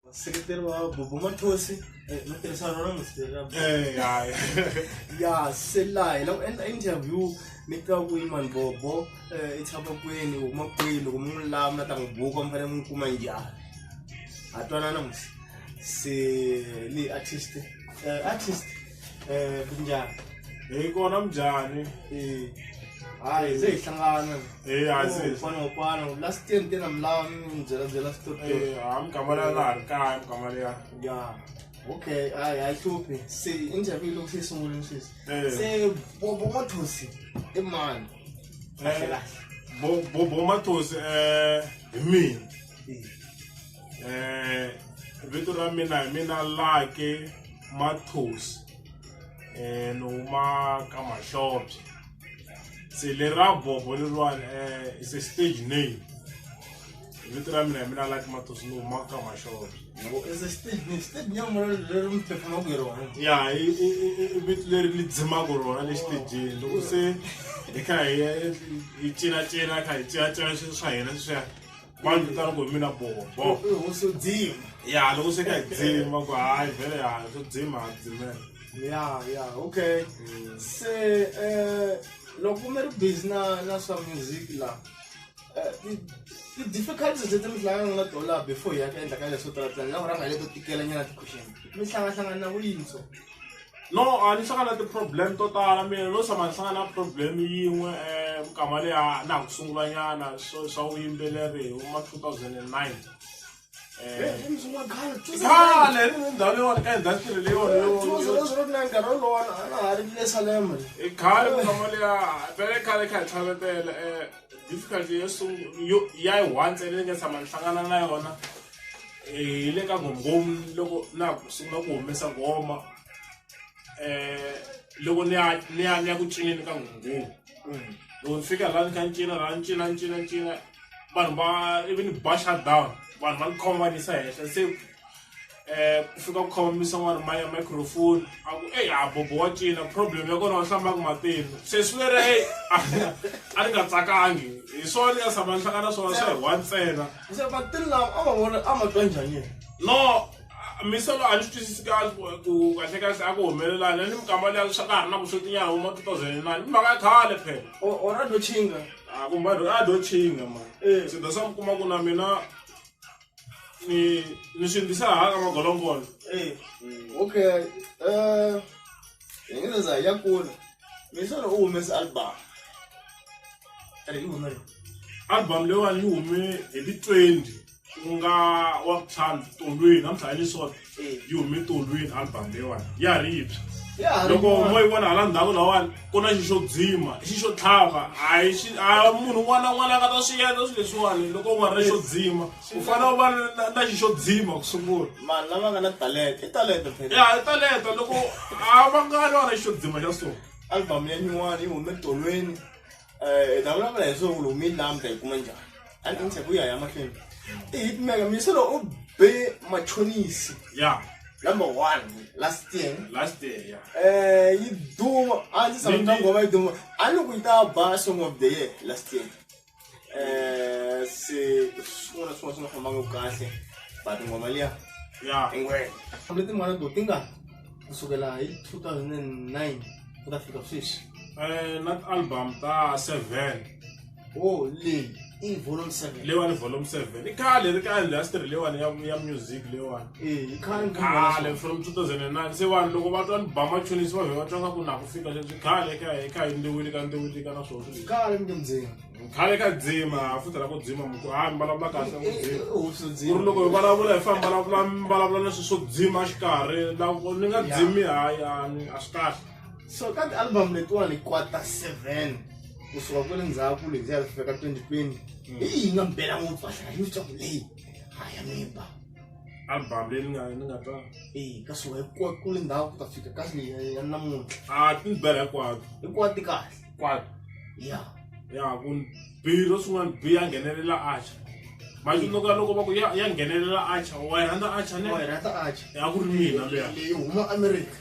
vaseketeri va bobo mathosi eh, va tirhisana rona musiteri ra Bobo. Eh, ya, ya. ya se laha hi lava ku endla interview mi tiva ku yini mani bobo eh, i tshama kwini u huma kwini loko mi n'wi lava na ta n'wi buka mi fanele mi n'wi kuma njhani ha twanana musi se leyi artist eh, artist Eh, kunjani hi kona mnjani Eh, hayi se hi hlangana Eh, hayi, se hi fana ngopana last year nte na mlawa mi mi byela byela story Eh, ha mugama leyi a na ha ri kaya mugama leya ya okay hayi hayi hluphi se interview loko se yi sungulini sweswi Eh. se bobo mothosi i mani kahle kahle Bo- bobo matosi um hi mina Eh, um vito ra mina hi mina lake Mathonsi ni huma ka Mahlobye se le ra Bobho leriwani is a stage name vito ra mina hi mina Lucky Mathonsi ni huma ka Mahlobye ya i i- i- i- i vito leri ni dzimaka rona le xitejini loko se hi kha hi hi cinacina kha hi cinacina swilo swa hina sweswiya vanhu vo tala ku hi mina bobo swo dzima ya loko swi ka hi dzima ku hayi vhele ya swo dzima ha dzimela ya ya okay mm. se um loko mi ri busy na na swa music la eh, ti-difficulties leti mi hlangana na tona laha before hi ya ka endla ka leswo tala tani laha ku rhanga hi leto tikela nyana ti-question mi hlangahlangana na vuyintso no a ni hlangana na ti-problem to tala mina no tshama ni hlangana na problem yin'we um minkama leya na ha ku sungulanyana swo swa vuyimbeleri hi ma two thousand and nine khale ri ni ndhawu leyiwani ka industry leyiwani i khale minkama leya pele khale kha hi tlhavetela um difficulty yo sungula ya yi one ntsena ni nga tshama ni hlangana na yona hi le ka nghomnghomu loko na ku sungula ku humesa nghoma eh loko ni ya ni ya ni ya ku cineni ka nghomnghomu loko ni fika laha ni kha ni cina laha ni cina ni cina ni cina vanhu va ivi ni ba shut down vanhu va ni khoma va ni yisa henhla se eh ku fika ku khoma misa n'wana ma ya microphone a ku eyi a bobo wa cina problem ya kona wa hlambaka matini se swi lera eyi a ni nga tsakangi hi swona ni nga tshama ni hlangana swona swa hi one ntsena se vatirhi lava a va vona a va twa njhani yena no misolo a ni swi twisisi kahle ku kahle kahle a ku humelelani ni mikama leya swa ka ha ri na vuswotinyana huma two thousand and nine mhaka ya khale phela ora do chinga a kumba a do chinga ma eh. sida sa mi kuma ku na mina ni ni swi ndisa haka magolombolo eh. mm. okay um Yengeneza ya kula. Misolo u humese album. Ri yi hume. Album leyiwani yi hume hi ti 20 ku nga wa vutlhanu tolweni namuntlha ya leswona Eh. yi hume tolweni album leyiwani ya ha ri yipsha Ya ha ri loko yona. mo yi vona hala ndhaku lawani ku na xi xo dzima i xi xo tlhava a hi xi a munhu un'wana na un'wana a nga ta swi endla swilo leswiwani loko u nga ri na xo dzima u fanele u va na na xi xo dzima ku sungula vanhu lava nga na talenta i talenta phela ya i talenta loko a va nga ni vana xi xo dzima xa so album ya nyuwana yi hume tolweni um ta vulavula hi swona ku loko mi yi lamta yi kuma njhani a ni inthe ku ya ya mahlweni i hit mega miyiselo u be machonisi ya number one last year last day ya um yi duma a ndzi sami ta ngoma yi duma a ni ku yi ta ba song of the year last year eh si swin'wana swin'wana swi nga fambanga kahle but ngoma liya ya ingwenya kambe tin'wana to ti nga kusukela hi 2009 ku ta fika sweswi eh na album ta 7 oh leyi i volume 7 leyiwani volume 7 i khale ri ka industry leyiwani ya ya music leyiwani Eh, khale from 2009 se vanhu loko va twa ni ba machonisi va vhe va twa nga ku na ku fika leswi khale ka hi kha hi ndiwile ka ndiwile ka na swona khale mi dzima khale ka dzima ha futela ku dzima muku ha mi vulavula kahle ku eh, eh, dzima ku ri loko hi vulavula hi famba vulavula mi vulavula leswi swo dzima xikarhi loko ni nga dzimi hayi a ni a swi kahle so ka ti-album letiwani kwata seven kusuka kwele ndzhaku lebyiya ri fika ka 2020 hi yi nga mbela ngopfu a hlaya yi tswaku leyi haya mimba album leyi ni nga ni nga twa eyi ka swi wa ku ku le ndhawu ku ta fika ka swi ya ya namuntlha a ah, ti ni bela hinkwato hinkwato ti kahle hinkwato ya ya ku biro swin'wana bi ya nghenelela acha manje loko loko va ku ya ya nghenelela acha wa yi rhandza acha ne wa yi rhandza acha ya ku ri mina leya leyi huma america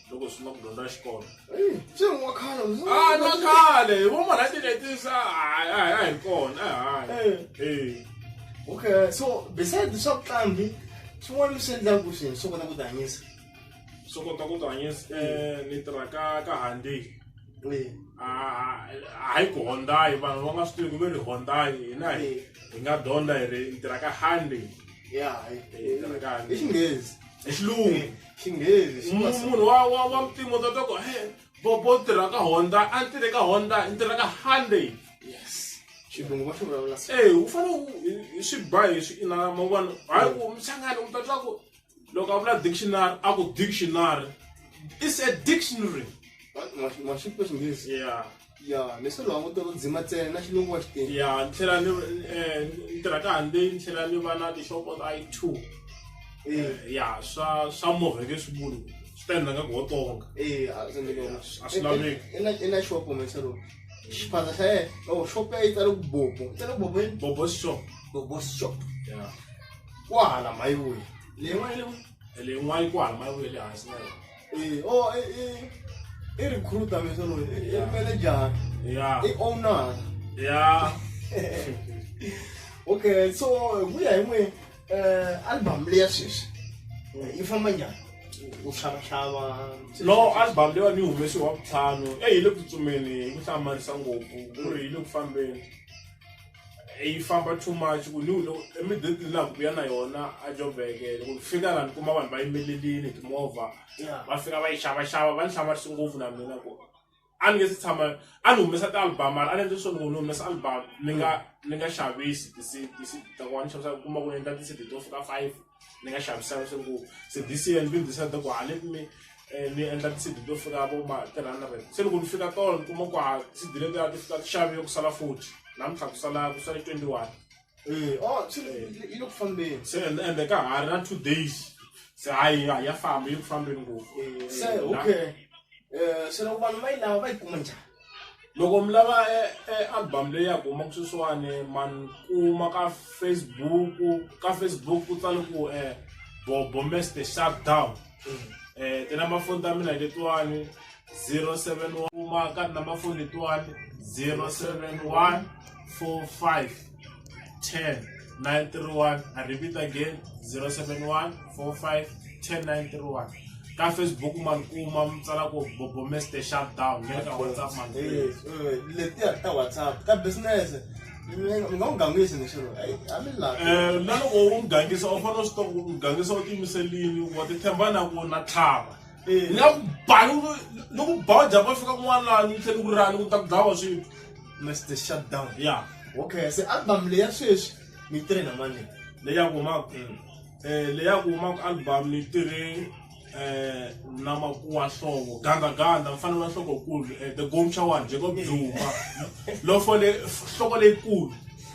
loko swi na ku dyondza xikolo se wa khale a na khale hi voma na tinetisa a hi kona hayi okay so besides swa vuqambi swin'wana leswi endlaka ku swilo swo kota ku tihanyisa swo kota ku tihanyisa um ni tirha ka ka handi hayi ku hondayi vanhu va nga swi tivi ku ve ri hondayi hina hi hi nga dyondza hi ri hi tirha ka handi ya hi tirha ka handi i xinghezi i xilungu xinghezi xi nga munhu wa wa wa mutimo ta toko he bobo tirha ka honda a ni tirhe ka honda ni tirha ka hyundai yes xilungu va swi vulavula se eh u fane u swi ba hi swi ina ma vona hayi ku mchangani u ta twa ku loko a vula dictionary a ku dictionary is a dictionary ma xi xinghezi yeah ya leswi languta ku dzima ntsena na xilungu wa xitini ya ni tlhela ni eh, ni tirha ka hambi ni tlhela ni va na tixopo ta i two eh, ya swa swa movheke swivulu swi ta endla nga ku wo tonga eh, a swi laveki. i na xopo meselo xiphandza xa yena o xopo ya yi tsale ku bobo yi tsale ku bobo yini bobo shop bobo shop ya kwahala mayiwuyi leyi n'wana yi le ku ene yin'wana ku hala mayi ya le hansi na yona eh, o oh, eh, eh, i recruiter vese loyi i manager i owner ya okay so ku ya hi n'we um album leya sweswi yi famba njhani u xavaxava no album leyi wa ni humesi wa vutlhanu eyi hi le ku tsutsumeni hi ku hlamarisa ngopfu ku ri hi le ku fambeni yi famba too much ku ni loko emidatini laha ku ya na yona a jobeke loko ni fika laha ni kuma vanhu va yimelelini timovha va fika va yi xavaxava va ni hlamarisi ngopfu na mina ku a ni nge si tshama a ni humesa ti-album mara a ni endle swo ni ku ni humesa album ni nga ni nga xavisi ti-cd ti-cd ta kona ni xavisa u kuma ku ni endla ti-cd to fika five ni nga xavisanga swi ngo se this year ni been decide ku hale me eh, ni endla tisidi to fika vo ma three hundred se loko ni fika tolo ni kuma ku ha tisidi letiya ti fika ti xave ku sala forty namuntlha ku sala ku sale twenty one eh, oh, eh. yi le ku fambeni se ende ka ha ri na two days se hayi a ya famba yi ku fambeni ngopfu se okay um se loko vanhu va yi lava va yi kuma njhani loko mi lava e, e album leyi ya ku humaka sweswiwani man kuma ka facebook ka facebook ku tsale ku um eh, bobomester shutdown um eh, tinamba foni ta mina hi letiwani 071 kuma ka tinamba foni letiwani 071 45 10 931 i repeat again 071 45 10 931 ka facebook ma ni kuma mi tsala ku bobomester shutdown mi le ka whatsapp ma ni Eh, eh, letiya ta whatsapp ka business mi nga mi nga n'wi gangisi ni xilo eyi a mi lavi Eh, na loko u n'wi gangisa u fanele u swi tiva ku n'wi gangisa u tiyimiselini wa titshemba na ku na tlhava ni nga ku ba ni ku- ni ku ba u japa fika kun'wana ni tlhela ni ku rani ku ta ku dlawa swilo that's the shutdown ya okay se album leya sweswi mi tirhe na mani leya ku ma um leya ku ma ku album ni tirhe um na makuwa hlovo gandaganda mfana wa nhlokokulu um the gomcha one jacob zuma lofo le nhloko leyikulu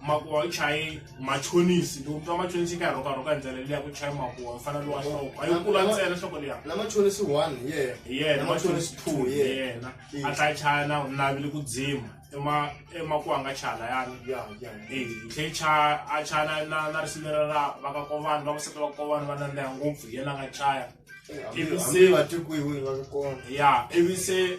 makuwa u chaye machonisi loko mutwa machonisi ka rhoka rhoka ndlela leyi ya ku chaya makuwa mfana lowu a xoko a yi kula ntsena xoko liya na machonisi one ye yena machonisi two ye yena a tla chaya na navile ku dzima ema emakuwa nga chaya layani ya ya eh hle chaya a chaya na na na risimera ra va ka kovani va ku seta va kovani va nandeha ngopfu yena nga chaya ivi se va tikuyiwe va ka kona ya ivi se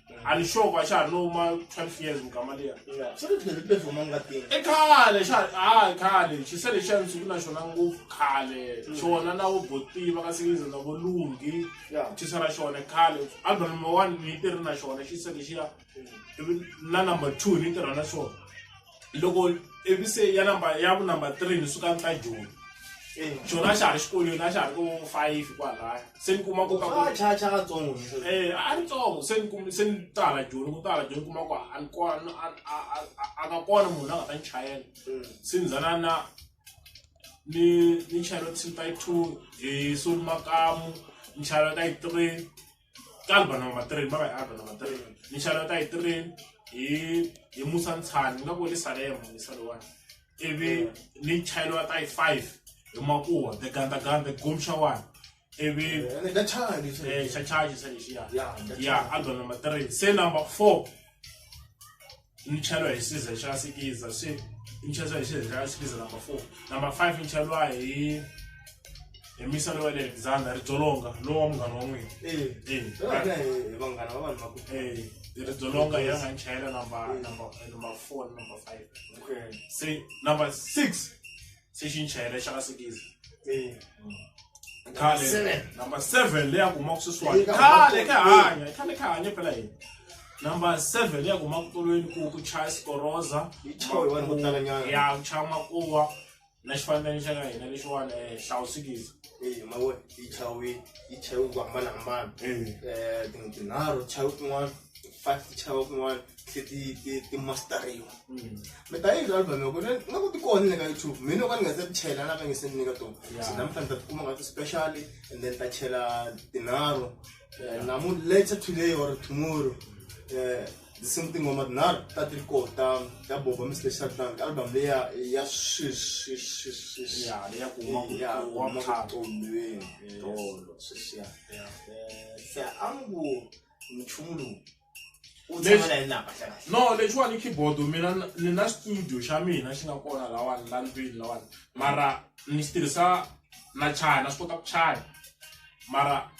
ani sure ku a xa ha no ma twelve years mugama liya swi ri tlhele tlhele huma ngatini i khale xa hayi khale xise lexiya ndzi ku na xona ngopfu khale xona na vo botiva ka sekiza na vo lungi ya xise ra xona khale album number one ni yi tirhi na xona xise lexiya ivi na number two ni yi tirha na xona loko ivi se ya number ya ku number three ni suka ni ta joni xona a xa ha ri xikolweni a xa ha ri ko five kwalaya se ni kuma koka a ri tsongo se ni kum se ni tala joni ku tala joni kuma ku a ni kona a nga kona munhu a nga ta ni chayela mm. se ni zana na ni ni chayela tsimpa yi two hi soni makamu ni chayela ka yi three ka album number three mara hi album number three ni xarata hi three hi hi musa ntshani nga ku le salema ni saliwani ivi ni chayeliwa ta hi five hi makuwa the ganda ganda gumsha one ivi xa chaji xa lexiya ya album number three se number four imitshelwa hi size xa sikiza si imitshelwa hi size xa sikiza number four number five imitshelwa hi hi misalo wa le alexander ri dzolonga lowa munghana wa n'wina ri dzolonga ya nga nchayela number number number four number five se number six se xi ni chayela xa ka sekisi eh. khale number seven leyi a kumaka sweswiwani khale ka hanya khale ka hanya phela yini number seven leyi a kumaka tolweni ku ku chaya sikoroza ya ku chaya makuwa na xifambeni xa ka hina lexiwani um eh, hlawusikiza eh, mawe yi chawe yi chawe ku hambanahambana um tinharhu chawe kun'wana five chawe kun'wana ti ti ti ti mastariwa mm. mi ta yini album yoko ni nga ku ti kona le ka youtube mina ka ni nga se ti chela na ka nge se ni nyika tona so na mi fanele ta ti kuma nga ti special and then ta chela tinharhu eh, namu later today or tomorrow eh, the same thing ngoma tinharhu ta ti ri ko ta ta boba mi special ta album leya ya sweswi sweswi ya leya ku huma ku ya huma ku tolweni tolo sweswi ya eh, se angu nchumu lowu u tshama na yena hlangana no lexiwani keyboard mina ni na studio xa mina xi nga kona lawani la ndlwini lawani mara ni xi tirhisa na chaya na swi kota ku chaya mara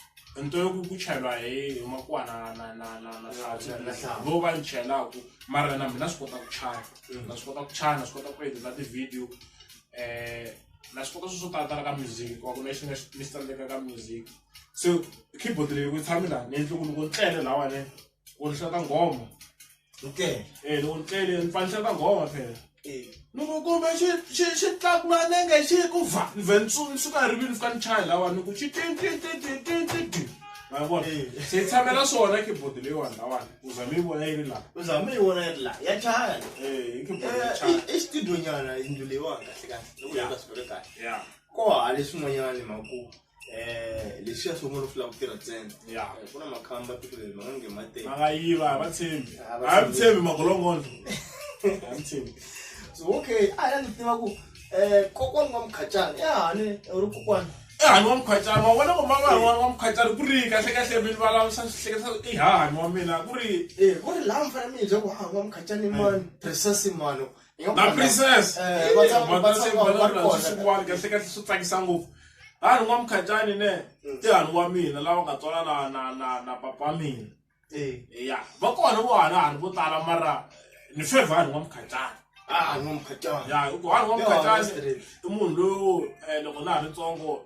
nto yo ku chayelwa hi hi makuwa na na na na na hlawu vo va ni chayelaku mara na mina swi kota ku chaya na swi kota ku chaya na swi kota ku edita ti-video um na swi kota swi swo talatala ka music wa ku na xi nga ni xi tsandzeka ka music se keyboard leyi ku tshami laha ni endli ku loko ni tlele lahawani ku ni hlata nghoma okay eh loko ni tlele ni fane ni hlata nghoma phela eh. loko kumbe xi xi xi tlakuka nenge xi ku va ni vhe ni suka hi rivilo ni fika ni chaya lahawani ku xi tintintintintintiti ma vona eh. se yi tshamela swona keyboard leyiwani lahawani u zame yi vona yi ri laha u zame yi vona yi ri laha ya chaya eh, eh, i xitudonyana yindlu leyiwani kahle kahle loko yi nga swi veke kahle ya ko hale swin'wanyana hi makumu Eh, leswiya swo n'wana u fulaka ku tirha ntsena ya Eh, ku na makhamba tiko leri ma nga nge ma tele vangayiva a va tshembi A va a mi tshembi magolongondo a mi tshembi so okay a ya ndzi tiva ku um kokwani wa mukhacana i hane u ri kokwani ehani wa mukhwacana ma vona ku mama wa wa mukhwacana ku ri kahle kahle mi vulavurisa swihleketa i hahani wa mina ku ri um ku ri laha mi fanele mi yebya ku hava mukhacana i mani tirhisa simano na princess eh, van'wani kahle kahle swi tsakisa ngopfu hanu n'wa mukhatshani ne mm. ti hanu wa mina lava nga tswala na na na na papa wa mina eh. ya va kona vo hanu hanu vo tala mara ni fevha hanu n'wa mukhatshani ah, ya hikuva hanu n'wa mukhatshani i munhu loyi eh, loko na ha ri ntsongo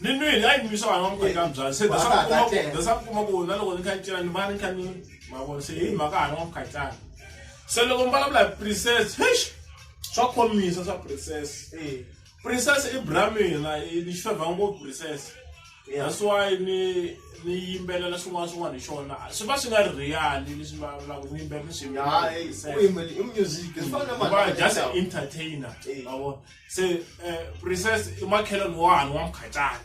ni nwini a yi nwisa vana va muku eka mbyana se dasa ku kuma ku na loko ni kha ni cina ni va ni kha ni mavona se hi mhaka hana wa mukhatlana se loko mi vulavula hi princess hesh swa khomisa swa princess e princess i bra mina ni xifevha ngopfu princess that's why ni ni yimbelela swin'wana swin'wana hi xona swi va swi nga ri real leswi va vulaka ni yimbelela ni swi music just entertainer ma vona se um princess i makhelani wani wa mukhatsani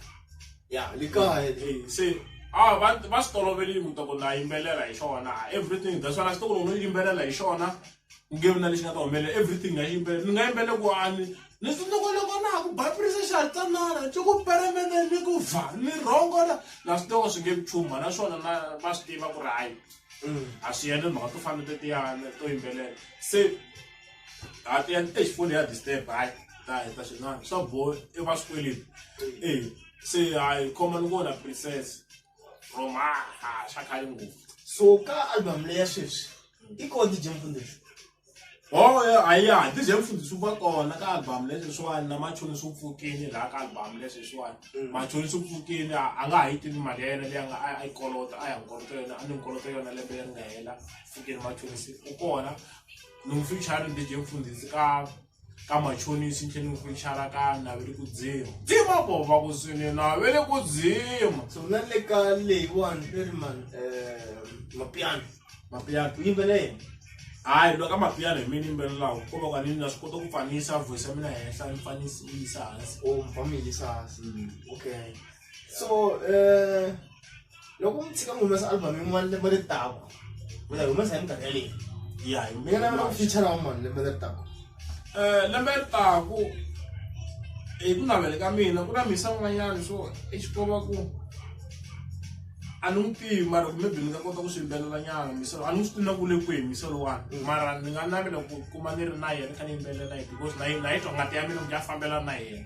ya le kaya se a va va swi tolovele yi muta ku na yimbelela hi xona everything that's why xitokolo no yimbelela hi xona ku nge vi na lexi nga ta humelela everything nga yimbelela ni nga yimbele ku ani ni sindoko loko na ha ku bapirisa xa tsanana ti ku peremene ni ku va ni rhongola na swidoko swi nge vi chuma naswona na va swi tiva ku ri hayi mm. a swi yene mhaka to fana tetiyana to yimbelela se at the end eish foni ya disturb hayi ta heta xin'wana swa boha i va swikweleti e se hayi khoma ni vona princess from ha ha xa khale ngopfu so ka album leya sweswi i kona dj mfundisi Oh yeah, I yeah. This is from the super call. Like album, let's just one. Na macho ni super kini. Like album, let's just one. Macho ni super kini. Anga hiti ni magena. Dia anga ay ay kolota. Ay ang kolota yun. Ano yung kolota yun? Alam ba yung ngayon? Fukin macho ni super call. ni n'wi fichara ni deje mfundhisi ka ka machonisi ni tlhela ni n'wi fichara ka naveli ku dzima dzima bova ku swini naveli ku dzima so na le ka leyiwani i ri man um mapiano mapiano ku yimbela yena hayi loko ka mapiano hi mina yimbelelaku ko va ka ni na swi kota ku fanisa voice ya mina henhla ni fanisa yi yisa hansi o mi famba mi yisa hansi okay so um loko mi tshika mi humesa album yin'wana lembe ri taku mi ta yi humesa hi minkarhi yaleyi ya hi mi nga navela ku fichara wa mani lembe leri taku um lembe ri taku hi ku navele ka mina ku na misa un'wanyana swo exikomba ku a ni n'wi tivi mara kumbe byi ni nga kota ku swi yimbelela nyana misolo a ni n'wi swi tivina ku le kwihi misolo wani mm. mara ni nga navela ku kuma ni ri na yena ni kha ni yimbelela na yena because na yi na yi twa ngati ya mina ku ya fambela na yena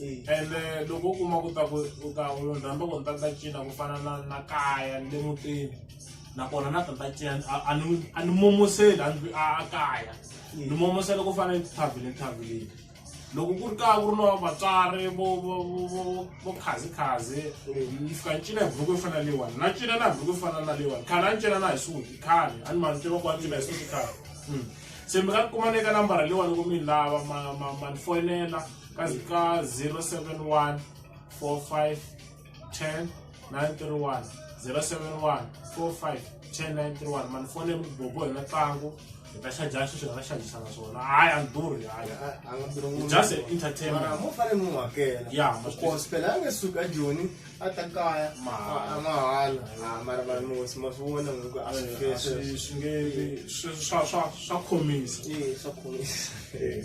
ende loko u kuma ku ta ku u ta u munhu rhandza ku ni ta ni ta cina ku fana na na kaya ni le mutini nakona na ta ni ta cina a- a ni a ni momoseli a ndlwi- a a kaya ni momosela ku fana etithavheni etithavheni loko ku ri kaya ku ri na vatswari vo vo vo vo vo khazikhazi ni fika ni cina hi buruku yo fana na leyiwani na cina na buruku yo fana na leyiwani khale a ni cina na hi suti khale a ni ma ni tiva ku a ni cina hi suti khale Mm. se mi nga kuma ni eka nambara leyiwani loko mi ni lava ma- ma- ma ni foyinela ka ka 071 45 10 931 071 45 10 931 mani fone mi bobo hi na tlangu hi ta xaja xi swi nga xajisa na swona hayi a ni durhi hayi just an entertainment mo fane mu hakela ya mo course phela nge suka joni a ta kaya mahala mahala ah, mara mara mo sima swi vona ngoko a swi eh, swi nge swa swa swa khomisa eh swa khomisa eh.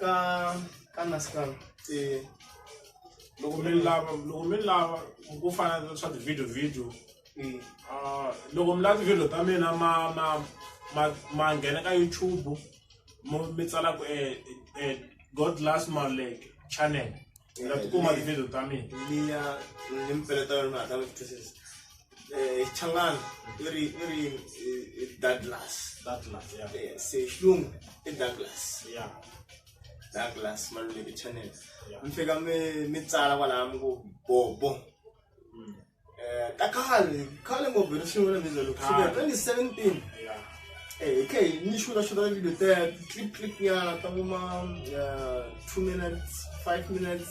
ka ka nasikal eh, loko mi lava loko mi lava ku fana na swa ti-video video eh, ah, loko mi lava ti-video ta mina ma ma ma ma nghena ka youtube mo- mi tsala ku eh, eh, god last malek channel mi nga tikuma ti-video ta mina liya ni mpfela ta yona mi hatla mi twisisa eh, changana i ri i ri eh, eh, douglas that last yeah Eh, se xilungu i douglas yeah douglas maluleke channel Yeah. mi fika mi mi tsala kwalaha mi ku bobo mm. Eh, ta khale khale ngopfu hi ri sungula mi zalo kusukela Khale. 2017 yeah Eh, hi khe hi ni xuta xuta video ta clip clip nyana ta kuma eh, two minutes five minutes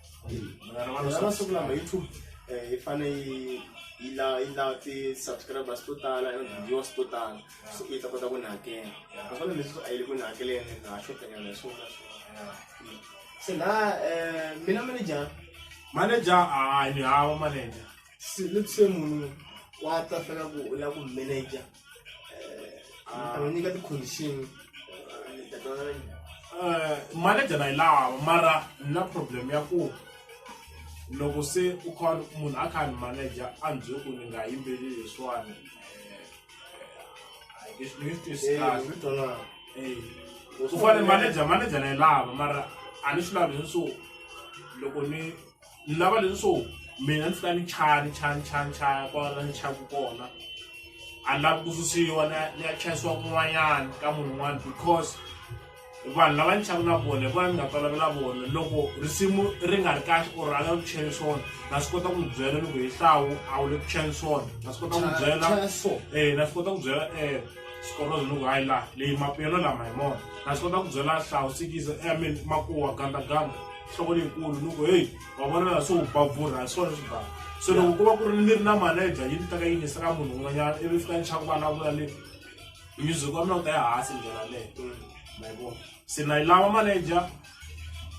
vanhu va masiku lama youtube eh, yi fane yi yi la yi la ti-subscribers to tala na ti-viewers to tala so yi ta kota ku ni hakela naswona leswi a yi le ku ni hakeleni na ha xotanyana hi swona swona se na um mina manager manager hayi ni hava manager se let's say munhu wa ta fela ku u lava ku manager Mara nyika ti condition. Eh, manager na yi lava mara ni na problem ya ku loko se u kha munhu a kha ni manager a ni byele ku ni nga yimbeli leswiwani eh, eh, a nge swi- ni nge swi twisisi Eh, kahle swi tona. Eh, u fane manager manager na yi lava mara a ni swi lavi leswo loko ni ni lava leswo mina ndzi ta ni chaya ni chaya ni chaya ni chaya kwala ni chayaku kona a ni lavi ku susiwa ni ya chayisiwa kun'wanyana ka munhu un'wana because vanhu lava ni xaku na vona hi vona ni nga tolovela vona loko risimu ri nga ri kahle or a la ku chela swona na swi kota ku byela loko hi hlawu a wu le ku chela swona na swi kota ku byela eh na swi kota ku byela eh sikorozo loko hayi la leyi mapiyano lama hi mona na swi kota ku byela hlawu sikiza eh, i mean makuwa gandaganda nhloko leyikulu ni ku heyi wa vona laha swi wu bavhurha hi swona swi bava se loko ku va ku ri ni ri na manager yi ni teka yi nisa ka munhu un'wanyana ivi fika ni chaka ku vulavula le music wa mina u ta ya hansi ndlela leyo ma yi vona se na yi lava manager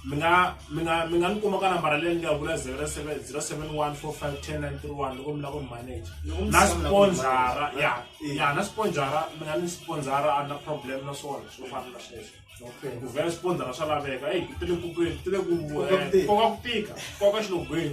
mi nga mi nga mi nga ni kuma ka nambara leyi ni nga vula zero seven zero seven one four five ten nine three one loko mi lava ku ni manager na sponzara ya ya na sponzara mi nga ni sponzara a na problem na swona swo fana na sweswo ku vhela xipondzana swa laveka eyi ti le mpfhukeni ti le ku koka ku tika koka xilungwini.